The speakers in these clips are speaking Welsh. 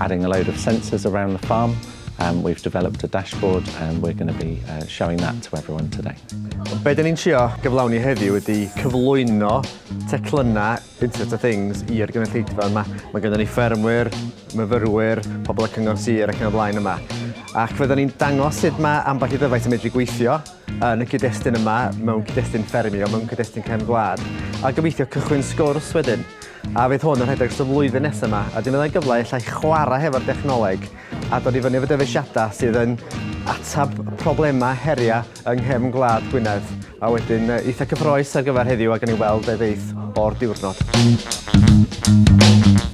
Adding a load of sensors around the farm, um, we've developed a dashboard and we're going to be uh, showing that to everyone today. Be dyn ni'n trio gyflawni heddiw ydy cyflwyno teclynnau Internet of Things i'r gynulleidfa yma. Mae gyda ni ffermwyr, myfyrwyr, pobl y cyngor sir ac yn y blaen yma. Ac fydden ni'n dangos sut mae ambell i ddyfais yn medru gweithio, yn y cyd-destun yma, mewn cyd-destun ffermio, mewn cyd-destun cefn gwlad, a gobeithio cychwyn sgwrs wedyn. A fydd hwn yn rhedeg dros y flwyddyn nesaf yma, a dim fyddai'n gyfle illa i chwarae hefo'r dechnoleg a dod i fyny efo dyfeisiadau sydd yn atab problemau heriau yng nghefn gwlad Gwynedd. A wedyn eitha cyffroes ar gyfer heddiw a gan i weld beth ddeith o'r diwrnod.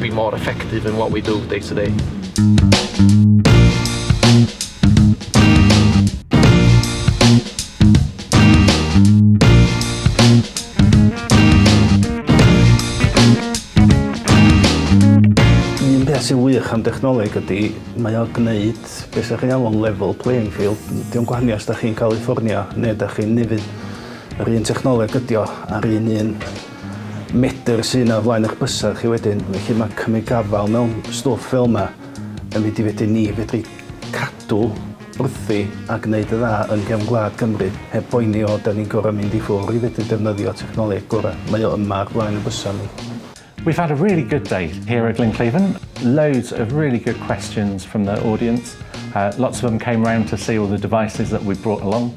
Be more effective in what we do day to day. sy'n wych am dechnoleg ydy, mae o'n gwneud beth sy'n chi'n alw'n level playing field. Diolch gwahaniaeth os da chi'n California neu da chi'n nefyd. Yr un technoleg ydy o, a'r un un medr sydd yna o flaen eich bysedd chi wedyn. Felly mae cymryd gafael mewn stwff fel yma yn mynd i fedru ni fedru cadw wrthi a gwneud y dda yn gefn gwlad Cymru heb boeni o da ni'n gorau mynd i ffwr i fedru defnyddio technoleg gorau. Mae o yma ar flaen y bysa ni. We've had a really good day here at Glenclaven. Loads of really good questions from the audience. Uh, lots of them came round to see all the devices that we brought along.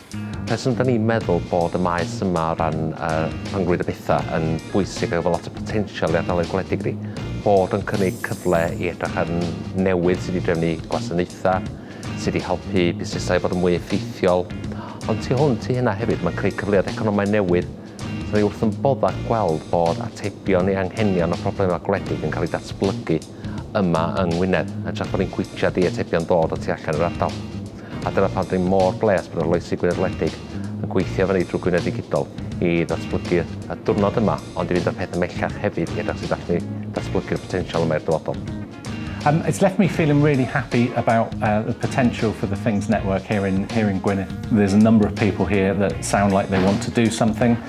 Rheswm da ni'n meddwl bod y maes yma o ran yy rhyngrwyd y petha yn bwysig efo lot o potensial i ardaloedd gwledig ni, bod yn cynnig cyfle i edrych ar newydd sydd i drefnu gwasanaetha, sydd i helpu busnesau i fod yn mwy effeithiol, ond tu hwnt i hynna hefyd mae'n creu cyfleoedd economaidd newydd, so ni wrth yn bodda gweld bod atebion i anghenion a problemau gwledig yn cael ei datblygu yma yng Ngwynedd, hytrach bod ni'n cwitshad i atebion dod o tu allan i'r ardal. A dyna pam dw i mor bleasd bod Arloesi Gwynedd Wledig yn gweithio efo ni drwy Gwynedd Ddigidol i ddatblygu y diwrnod yma ond i fynd â'r peth ymhellach hefyd i edrych sut allwn ni ddatblygu'r potensial yma i'r dyfodol. Um, it's left me feeling really happy about uh, the potential for the Things Network here in, here in Gwynedd. There's a number of people here that sound like they want to do something.